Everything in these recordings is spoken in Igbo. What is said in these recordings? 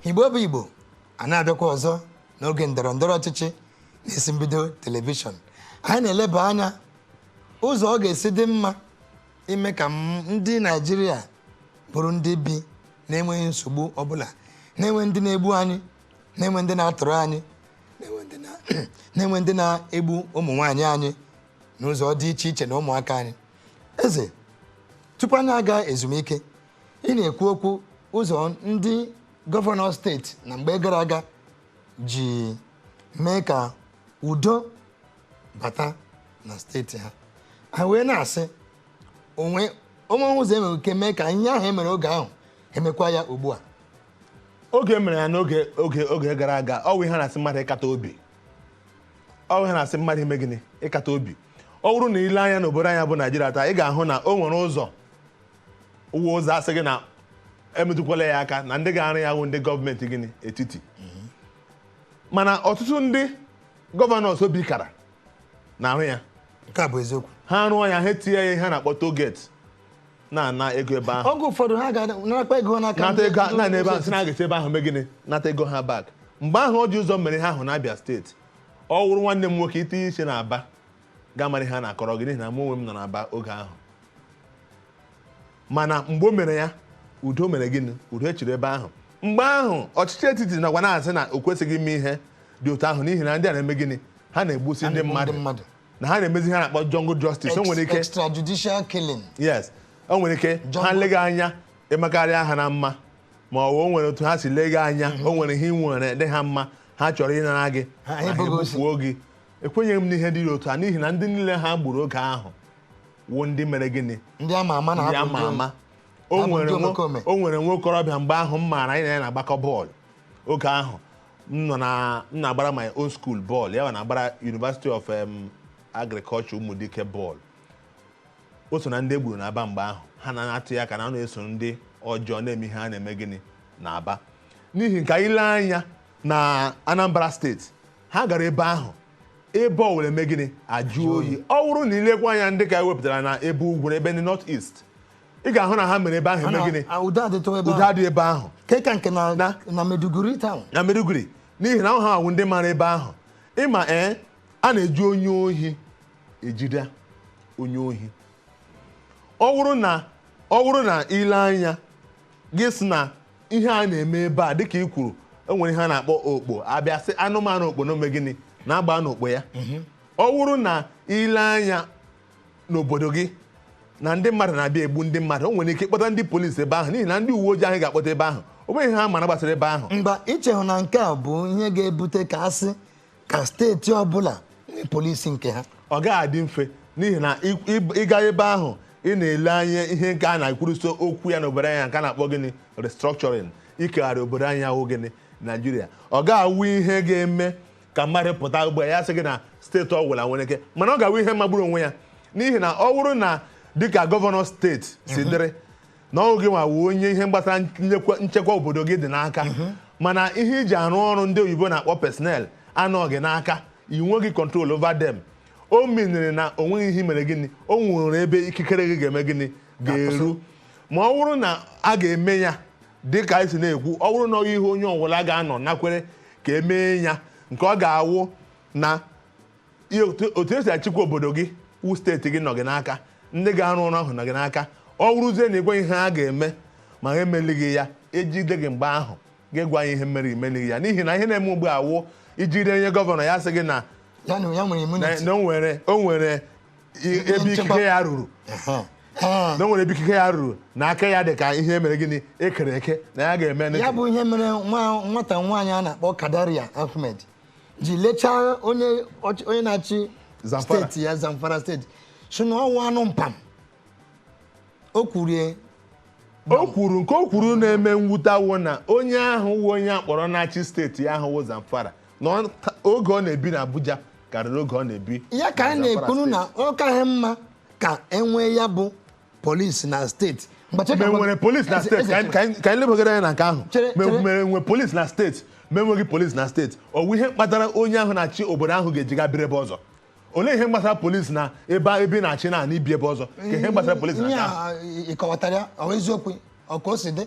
igbo bụ igbo a na-abịakwa ọzọ n'oge ndọrọ ndọrọ ọchịchị n'isi mbido telivishọn anyị na-eleba anya ụzọ ọ ga-esi dị mma ime ka m- ndị naijiria bụrụ ndị bi na-enweghị nsogbu ọbụla na-enweghị ndị na-egbu anyị na-enwe ndị na-atụrụ anyị na-enwe ndị na- na-enwe ndị na-egbu ụmụ nwaanyị anyị n'ụzọ dị iche iche na ụmụaka anyị eze tupu anyị aga ezumike ị na-ekwu okwu ụzọ ndị gọvanọ steeti na mgbe gara aga ji mee ka udo bata na steeti ha ha wee na-asị o nwee o nwee ụzọ e nwere ike mee ka ihe ahụ e mere oge ahụ emekwa ya ugbu a oge e mere ya n'oge oge oge gara aga ọ wụ ihe a na-asị mmadụ ịkata obi ọ wụ ihe a na-asị mmadụ ime gịnị ịkata obi ọ bụrụ na i lee anya n'obodo anyị a bụ naijiria taa ị ga-ahụ na o nwere ụzọ wụ ụzọ a sị gị na emetụkwala ya aka na ndị ga-arụ ya wụ ndị gọọmenti gịnị etiti mana ọtụtụ ndị gọvanọs obi kara na-arụ ya ha rụọ ya ha etinye ya ihe a na-akpọ tollgate na-ana ego ebe ahụ oge ụfọdụ ha ga-anakwa ego n'aka nata ego na ebe ahụ sị na a ga-esi ebe ahụ mee gịnị nata ego ha back mgbe ahụ Orji Uzor mere ihe ahụ na Abia steeti ọ wụrụ nwanne m nwoke itinye isi na aba ga-amara ihe a na-akọrọ gị n'ihi na mụ onwe m nọ na aba oge ahụ mana mgbe o mere ya udo mere gịnị udo chịrị ebe ahụ mgbe ahụ ọchịchị etiti nọkwa na-asị na o kwesịghị ime ihe dị otu ahụ n'ihi na ndị a na-eme gịnị ha na-egbusi ndị mmadụ na ha na-emezi ihe a na-akpọ jungle justice o nwere ike extrajudicial killing yes o nwere ike ha lega anya ị makarịa ha na mma ma ọ bụ o nwere otu ha si lega anya o nwere ihe i nwere dị ha mma ha chọrọ ịnara gị ha egbufuo gị ekwenyeghị m n'ihe dị otu a n'ihi na ndị niile ha gburu oge ahụ wụ ndị mere gịnị ndị ama ama na ndị ama ama o nwere nwa okorobịa mgbe ahụ m maara anyị na ya na-agbakọ bọọlụ oge ahụ m nọ na m na-agbara my own school bọọlụ ya na-agbara University of um, Agriculture Ụmụdike bọọlụ o so na ndị e gburu na aba mgbe ahụ ha na-atụ ya aka na ọ na-eso ndị ọjọọ na-eme ihe a na-eme gịnị na aba n'ihi nke a i lee anya na Anambra steeti ha gara ebe ahụ ebe ọ were mee gịnị ajụọ oyi ọ wụrụ na i lekwa anya ndị nke a e wepụtara na ebe ugwu na ebe ndị north east ị ga-ahụ na ha mere ebe ahụ eme gịnị Ah, udo adịtụ ebe udo ahụ. adị ebe ahụ nke ka nke na Na- na Maiduguri town. na Maiduguri n'ihi na ha wụ ndị mara ebe ahụ ị ma ee a na-eji onye ohi ejide onye ohi ọ bụrụ na ọ bụrụ na i lee anya gị sị na ihe a na-eme ebe a dịka i kwuru e nwere ihe a na-akpọ okpo a bịa sị anụmanụ okpo na ome gịnị na-agba n'okpo ya ọ bụrụ na i lee anya n'obodo gị na ndị mmadụ na-abịa egbu ndị mmadụ o nwere ike ịkpọta ndị polisi ebe ahụ n'ihi na ndị uwe ojii ahụ ga-akpọta ebe ahụ o nweghị ihe ha mara gbasara ebe ahụ mba ichehụ na nke a bụ ihe ga-ebute ka a sị ka steeti ọbụla nwee polisi nke ha ọ gaghị adị mfe n'ihi na ị- ị- ịga ebe ahụ ị na-ele anya ihe nke a na-ekwuruso okwu ya n'obodo anyị nke a na-akpọ gịnị restructuring ikegharị obodo anyị a wụ gịnị naijiria ọ ga-awụ ihe ga-eme ka mmadụ pụta ugbu a ya sị gị na steeti ọwụla nwere ike mana ọ ga-awụ ihe magburu onwe ya n'ihi na ọ bụrụ na dịka gọvanọ steeti si dịrị na ọ wụ gị nwa wụ onye ihe gbasara nchekwa- nchekwa obodo gị dị n'aka mana ihe iji arụ ọrụ ndị oyibo na-akpọ personnel anọghị n'aka i nweghị control over them o miniri na o nweghị ihe i mere gịnị o nwere ebe ikikere gị ga-eme gịnị ga-eru ma ọ bụrụ na a ga-eme ya dị ka anyị si na-ekwu ọ bụrụ na ọ ihe onye ọbụla ga-anọ nakwere ka e mee ya nke ọ ga-awụ na ihe otu otu esi achịkwa obodo gị wụ steeti gị nọ gị n'aka ndị ga-arụ ọrụ ahụ nọ gị n'aka ọ wụrụzie na ị gwa ihe a ga-eme ma ha emelighị ya ejide gị mgbe ahụ gị agwa anyị ihe mere imelighị ya n'ihi na ihe na-eme ugbu a wụ i jide onye gọvanọ ya sị gị na ya na ya nwere na immunity na o nwere o nwere ebe ikike ya ruru na o nwere ebe ikike ya ruru na aka ya dị ka ihe e mere gịnị ekere eke na ya ga-eme ya bụ ihe mere nwata nwaanyị a na-akpọ Kadaria Ahmed ji lechaa onye na-achị steeti ya Zamfara steeti sị na ọ wụ anụ mpam o kwuru okwu nke o kwuru na-eme mwute awụ na onye ahụ wụ onye akpọrọ na-achị steeti ahụ wụ Zamfara na ọ- ta- oge ọ na-ebi na Abuja karịrị oge ọ na-ebi ya ka anyị Zamfara na-ekwuru na steeti. ọ kaghị mma ka enwee ya bụ polisi na steeti Mgbe cheka- ma enwere polisi na Eze- steeti Eze- ka anyị- ka anyị- ka anyị lebagara anya na nke ahụ Chere- Ma chere. ma enwere polisi na steeti ma enweghị polisi na steeti ọ bụ ihe kpatara onye ahụ na-achị obodo ahụ ga-eji gaa biri ebe ọzọ olee ihe gbasara polisi na ebe ebe ị na-achị na ị na-ebi ebe ọzọ ka ihe gbasara polisi na ihe nke ahụ a ịkọwatara ya ọ bụ eziokwu ọ ka o si dị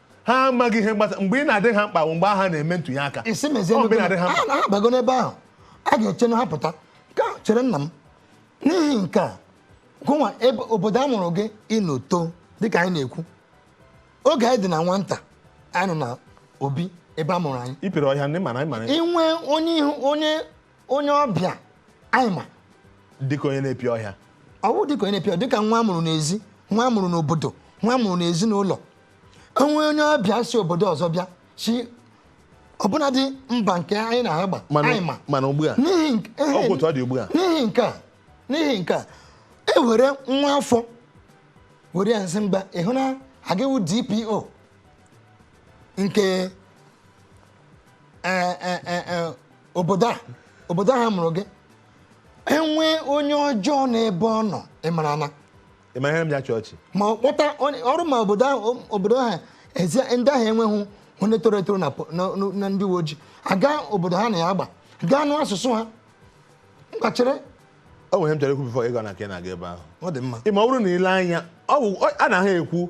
ha amaghị ihe gbasa mgbe ị na-adị ha mkpa bụ mgbe ha na-eme ntụnye aka isi mezie Ọ mgbe ị na-adị ha mkpa ha bago n'ebe ahụ a ga-eche na ha pụta ka chere nna m n'ihi nke a gụnwa ebe obodo a mụrụ gị ịnoto dịka anyị na-ekwu oge anyị dị na nwata anyị nọ na obi ebe a mụrụ anyị ipere ọhịa ndị mana anyị mara inwe onye ị hụ onye onye ọbịa anyị ma dịka onye na-epi ọhịa ọ wụ dịka onye na-epi ọhịa dịka nwa amụrụ n'ezi nwa amụrụ n'obodo nwa amụrụ n'ezinụlọ o nwee onye ọbịa si obodo ọzọ bịa si ọbụnadị mba nke anyị na ha gba anyị ma mana ugbu a ọgwụtụ ọ dị ugbu a n'ihi nke a n'ihi nke a e were nwa afọ were ya nsị mba ịhụ na ọ ga-awụ DPO nke Eh, eh, eh, obodo a obodo a mụrụ gị enwe onye ọjọọ n'ebe ọ nọ ịmara na ịma ihe m ji achị ọchị ma ọ kpọta onye- ọrụ ma obodo ahụ obodo ahụ ezi ndị ahụ enweghị onye toro etoro na po- na- na- na ndị uwe ojii aga obodo ha na ya agba ga-anụ asụsụ ha ngwa chere o nwere ihe m chọrọ ikwu bifọ ịga na nke na-aga ebe ahụ ọ dị mma ịma ọ bụrụ na ile anya ọ bụ ọ- a na ha ekwu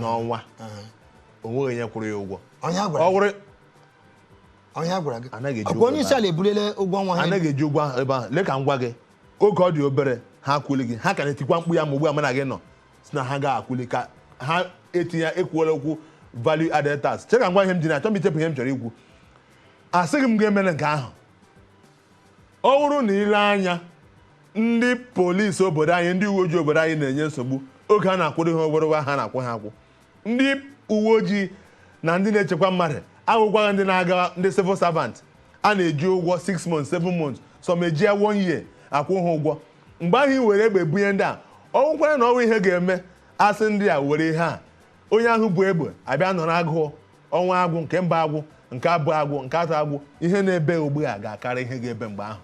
n'ọnwa o nweghị onye kwụrụ ya ụgwọ Onye a gwara ọ gị? wụrụ Onye a gwara gị? Anaghị eji Ọkwa ụgwọ onye isi ebe ala ebuliela ụgwọ ọnwa ha. anaghị eji ụgwọ ahụ ebe ahụ lee ka m gwa gị oge ọ dị obere ha akwụli gị ha ka na-etikwa mkpu ya ma ugbu a mana gị nọ sị na ha ga-akwụli ka ha etinye ekwuola okwu value added tax chere ka m gwa ihe m ji na achọ m ichepụ ihe m chọrọ ikwu asịghị m gị emere nke ahụ Ọ bụrụ na ile anya ndị polisi obodo anyị ndị uwe ojii obodo anyị na-enye nsogbu oge ha na-akwụrụ ihe obere ụgwọ a ha na-akwụ ha akwụ ndị uwe ojii na ndị na-echekwa mmadụ awụkwaghị ndị na-aga ndị civil servant a na-eji ụgwọ 6 months 7 months some eji ya one year akwụ ha ụgwọ mgbe ahụ i were egbe bunye ndị a ọ bụkwara na ọ wụ ihe ga-eme asị ndị a were ihe a Onye ahụ bu egbe abịa nọrọ agụụ ọnwa agwụ nke mbụ agwụ nke abụọ agwụ nke atọ agwụ ihe na-ebe ugbu a ga-akarị ihe ga-ebe mgbe ahụ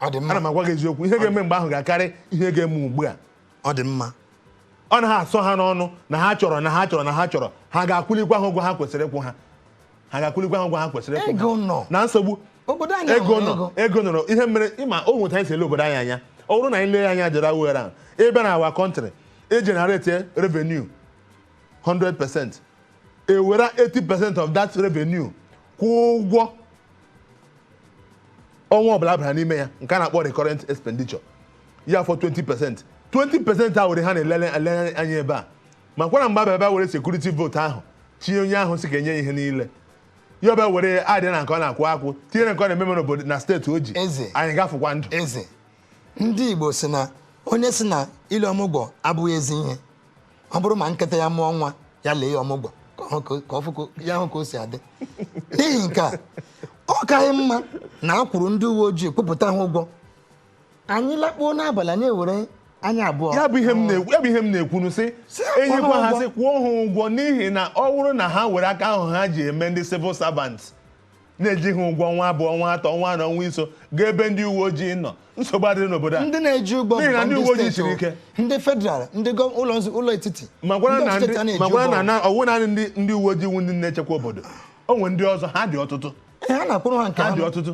ọ dị mma ana m agwa gị eziokwu ihe ga-eme mgbe ahụ ga-akarị ihe ga-eme ugbu a ọ dị mma ọ na ha asọ ha n'ọnụ na ha chọrọ na ha chọrọ na ha chọrọ ha ga-akwụlikwa ha ụgwọ ha kwesịrị ịkwụ ha ha ga-akwụlikwa ha ụgwọ ha kwesịrị ịkwụ ego nọ na nsogbu obodo anyị ego nọ ego nọrọ ihe mere ịma o nwe etu anyị si ele obodo anyị anya ọ bụrụ na anyị lee anya jere awere ahụ ị bịa na our country e generate revenue 100 percent ewere 80 percent of that revenue kwụọ ụgwọ ọnwa ọbụla bara n'ime ya nke a na-akpọ recurrent expenditure ya fọ 20 percent 20 percent a were ha na-elele anya ebe a ma kwara mgbe abịa bịa were security vote ahụ tinye onye ahụ sị ka enye ya ihe niile ya ọ bịa were ya adịa na nke ọ na-akwụ akwụ tinye na nke ọ na-ememe n'obodo na steeti o ji Eze. anyị ga-afụkwa ndụ eze ndị Igbo sị na onye sị na ile ọmụgwọ abụghị ezi ihe ọ bụrụ ma nkịta ya mụọ nwa ya lee ya ọmụgwọ ka ọ hụ ka- ka ọ fụ ka- ya hụ ka o si adị n'ihi nke a ọ kaghị mma na a kwụrụ ndị uwe ojii kwụpụta ha ụgwọ anyị lakpuo n'abalị anyị ewere anya abụọ ya bụ ihe m na-ekwu ya bụ ihe m na-ekwunu sị Sị ha kwụọ enyekwa ha ha ụgwọ. sị kwụọ ha ụgwọ n'ihi na ọ bụrụ na ha were aka ahụ ha ji eme ndị civil servant na-eji ha ụgwọ ọnwa abụọ ọnwa atọ ọnwa anọ ọnwa iso gaa ebe ndị uwe ojii nọ nsogbu adịrị n'obodo a ndị na-eji ụgwọ N'ihi na bụkwa ndị uwe ojii steeti siri o. ike. ndị federal ndị gọ- ụlọ nzu- ụlọ etiti makwara ndị na ọchịchị ndị- a na-eji makwara ụgwọ. na na ọwụ naanị ndị ndị uwe ojii wu ndị na-echekwa obodo o nwere ndị ọzọ ha dị ọtụtụ Ee, ha na-akwụrụ ha nke ha dị ha ọtụtụ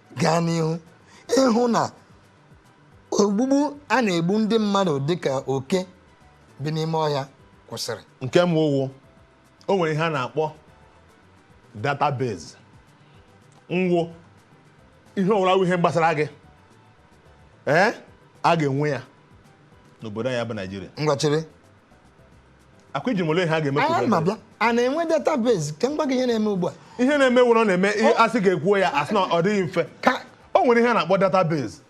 gaa n'ihu ịhụ na ogbugbu a na-egbu ndị mmadụ dịka oke bi n'ime ọhịa kwụsịrị nke mbụ wụ o nwere ihe a na-akpọ database nwe ihe ọwụla wụ ihe gbasara gị ee a ga-enwe ya n'obodo anyị bụ naijiria ngwa chere ọkwa ị jụrụ m olee ihe a ga-eme anyị na-abịa a na-enwe database ka m gwa gị ihe na-eme ugbu a ihe na-eme wụrụ na-eme ihe asị gị kwuo ya asị na ọ dịghị mfe ka o nwere ihe a na-akpọ database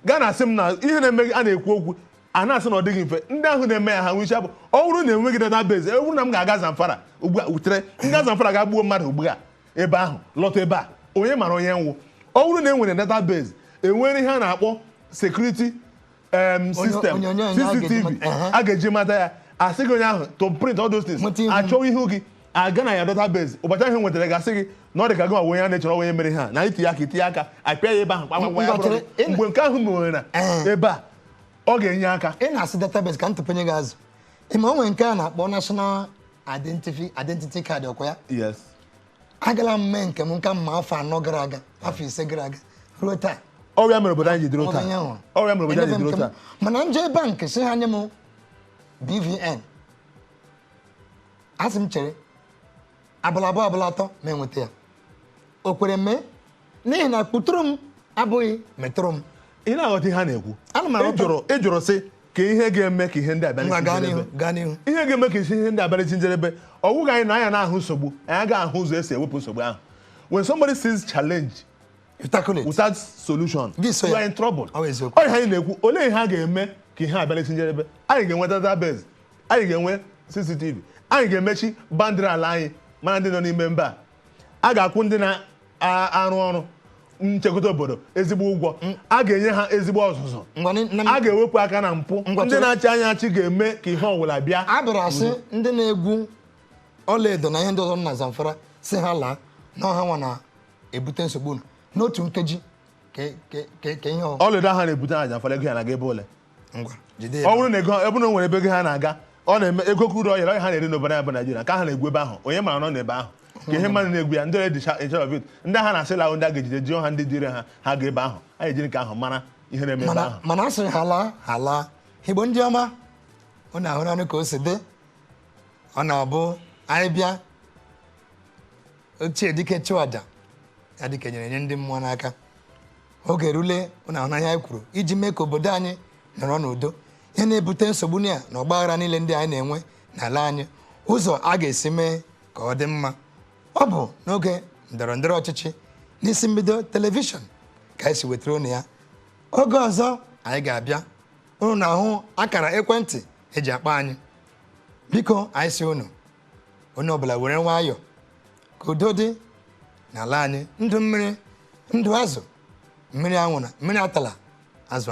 gaa na asị m na ihe na-eme a na-ekwu okwu a na-asị na ọ dịghị mfe ndị ahụ na-eme ya ha nwere isi abụọ ọ bụrụ na enweghị database ọ bụrụ na m ga-aga Zamfara ugbu a wutere ndị Zamfara gaa gbuo mmadụ ugbu a ebe ahụ lọta ebe a onye mara onye m wụ ọ bụrụ na e nwere database enwere ihe a na-akpọ security em, system onyonyo onye a ga-eji CCTV mata- Ehe. a ga-eji mata ya asị gị onye ahụ to print all those things Nweta ihu. achọwa ihu gị a gaa na ya database ụbọchị ahụ nwetara gị asị gị na ọ dị ka gị nwa onye a na-echọrọ onye mere ihe a na itinye aka itinye aka apịa ya ebe ahụ kpakpa kpakpa ya Ngwa, bụrụ chere, gị. mgbe nke ahụ mere na Ehe. ebe a ọ ga-enye aka ị na-asị database ka m tụpenye gị azụ ịma o nwere nke a na-akpọ national identity identity card ọkwa ya yes agala m mee nke m kamgbe afọ anọ gara aga afọ ise gara aga ruo taa ọ ya mere obodo anyị ji dịrị otu a ọ ya mere obodo anyị ji dịrị otu a mana m jee bank sị ha nye m BVN asị m chere abalị abụọ abalị atọ m enweta ya o kwere mee n'ihi na kpọtụrụ m abụghị metụrụ m ị na-aghọta ihe a na-ekwu Ana m aghọta. ị jụrụ ị jụrụ sị ka ihe ga-eme ka ihe ndị a bịa ngwa n'isi gaa n'ihu njedebe gaa n'ihu ihe ga-eme ka isi ihe ndị a bịa n'isi njedebe ọ wụghị anyị na anya na-ahụ nsogbu anyị agaghị ahụ ụzọ esi ewepụ nsogbu ahụ when somebody sees challenge You tackle it. without solution Gị so you ya. are in trouble Ọ bụ eziokwu. ọ ihe anyị na-ekwu olee ihe a ga-eme ka ihe a bịa n'isi njedebe anyị ga-enwe database anyị ga-enwe cctv anyị ga-emechi boundary ala anyị mara ndị nọ n'ime mba a a ga-akwụ ndị na-arụ ọrụ nchekwa obodo ezigbo ụgwọ mm. a ga-enye ha ezigbo ọzụzụ a ga-ewepụ aka na mpụ ndị na-achị anyị achị ga-eme ka ihe ọbụla bịa a bịara sị mm. ndị na-egwu ọlaedo na ihe ndị ọzọ na Zamfara sị ha laa na ọ hanwa na-ebute nsogbu n'otu nkeji ka ihe ọlaedo ha na-ebute na Zamfara ego ya na-aga ebe olee ọ bụrụ na ego ebe na o nwere ebe ego ahụ na-aga ọ na-eme ego crude oil a oil ha na-eri n'obodo a bụ Naijiria ka ha na-egwu ebe ahụ onye mara nọ n'ebe ahụ ka ihe mmadụ na-egwu ya ndị ọrịa dịcha echere of it ndị ha na-asị laa ahụ ndị a ga-ejide jụọ ha ndị duru ha ha gaa ebe ahụ anyị ejiri nke ahụ mara ihe na-eme ebe ahụ mana a sịrị ha laa ha laa igbo ndị ọma unu ahụrụnụ ka o si dị ọ na-abụ anyị bịa ochie dike chụọ aja ya dị ka e nyere nye ndị mmụọ n'aka oge erule unu ahụna ihe anyị kwuru iji mee ka obodo anyị nọrọ n'udo ihe na-ebute nsogbu na ọgba aghara niile ndị anyị na-enwe n'ala anyị ụzọ a ga-esi mee ka ọ dị mma ọ bụ n'oge ndọrọ ndọrọ ọchịchị n'isi mbido telivishọn ka anyị si wetara unu ya oge ọzọ anyị ga-abịa unu na-ahụ akara ekwentị eji akpọ anyị biko anyị si unu onye ọbụla were nwayọọ ka udo dị n'ala anyị ndụ mmiri ndụ azụ mmiri anwụna mmiri atala azụ anwụ